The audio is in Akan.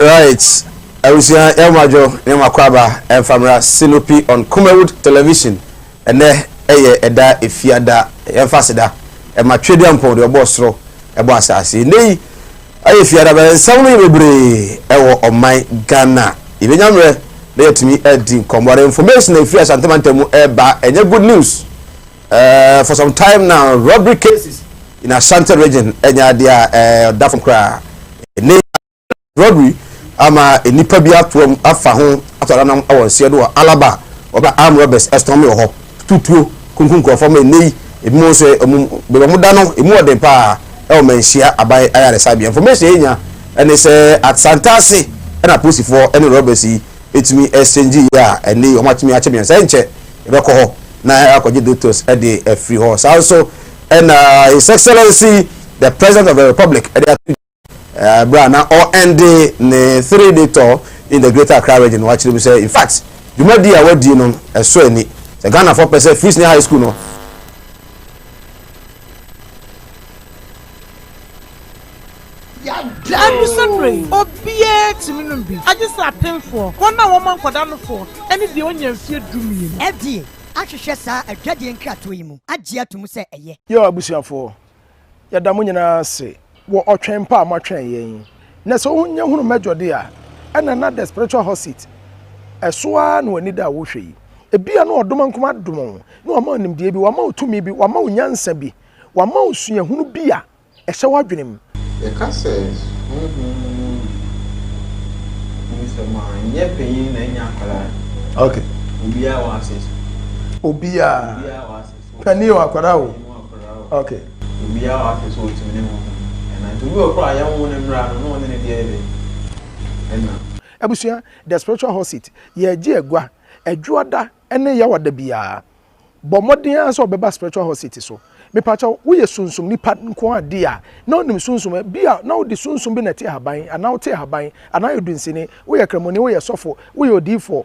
Right abusua yɛ mo adwo ne mo akwaaba ɛnfa mmra Sinopi on Kumawood television ɛnɛ ɛyɛ ɛda efiada yɛnfa aseda ɛma Tweduampɔn deɛ ɔbɔɔ soro ɛbɔ asaase ɛnɛ yi ɛyɛ efiada bɛyɛ nsɛm no yɛ bebree ɛwɔ ɔman Ghana yɛbɛnya mmerɛ na yɛtumi ɛdi nkɔmmɔ the information ɛfiri Asante mantam mu ɛba ɛnyɛ good news uh, for some time now robbery cases in Asante region ɛnyɛ adeɛ a ɛda fam koraa ɛnɛ Rodri ama nnipa bi atoa mu afa ho ato ananam wɔ nseɛ do wɔ Alaba a wɔba armed robbers ɛstɔn me wɔ hɔ tutu tuo kunkum nkurɔfoɔ ma ɛnnɛ yi ebinom nso ɛ ɔmo baabi ɔmo da no emu ɔden paa ɛwɔ Manhyia aban ayaresabea information a yɛnya ɛne sɛ Asantase ɛna apolisifoɔ ɛne robbers yi ɛtumi ɛsɛngyi yɛ a ɛnnɛ yi ɔmo atumi akyɛ mmiɛnsa ɛnkyɛ ɛbɛkɔ hɔ na akɔgye doctors ɛde afiri hɔ saa nso ɛna His Excellency the President of the Republic ɛde ato Bere a na ɔrende ne three day tour in the Greater Accra Region no, wakyerɛ mu sɛ, In fact, dwumadi a wadi no ɛsɔ ani. Sɛ Ghanafoɔ pɛ sɛ Free Senior High School no Ɛnusɛ mmerɛ yi, obiara tumi nom bi, agye sɛ apemfoɔ, wɔn a wɔma nkwadaa nofoɔ, ne deɛ ɔnya mfeɛ dummienu. FDA ahwehwɛ saa adwadie nkratoɔ yi mu agye ato mu sɛ ɛyɛ. Yaw abusuafoɔ, Yɛda mo nyinaa ase wɔ ɔtwɛn pa a moatwɛn yɛn yi. Na sɛ wonya hunu Major de a, ɛna na the spiritual hot seat ɛso ara na w'ani da a wohwɛ yi. Ebia na ɔdom nko adom wo, na wama wo nimdeɛ bi, wama wo tumi bi, wama wo nyansa bi, wama wo suahunu bi a ɛhyɛ w'adwene mu. Yɛka sɛ honhom mu no mu nsɛm a, ɛnyɛ panyin na ɛnyɛ akwadaa. Okay. Obiara wɔ access. Obiara. Obiara wɔ access. Panin o, akwadaa o. Okay. Obiara a wahwɛ sɛ ɔtumi ne ho ɛna nti obi wɔ koraa yɛn wo ne mmra no na ɔne ne deɛ yɛ dɛ ɛna. Abusua, The Spiritual Hot Seat, Yɛregye agua, Adwoada ne Yawada biara. Bɔ mmɔden ara sɛ wobɛba Spiritual Hot Seat so. Mepa kyɛw, woyɛ sunsum nipa nko ara di a, na wonim sunsum a, bi a na wode sunsum bi na ɛte ahaban, anaa wote ahaban, anaa woyɛ dunsini, woyɛ kramoni, woyɛ sɔfo, woyɛ odiyifoɔ,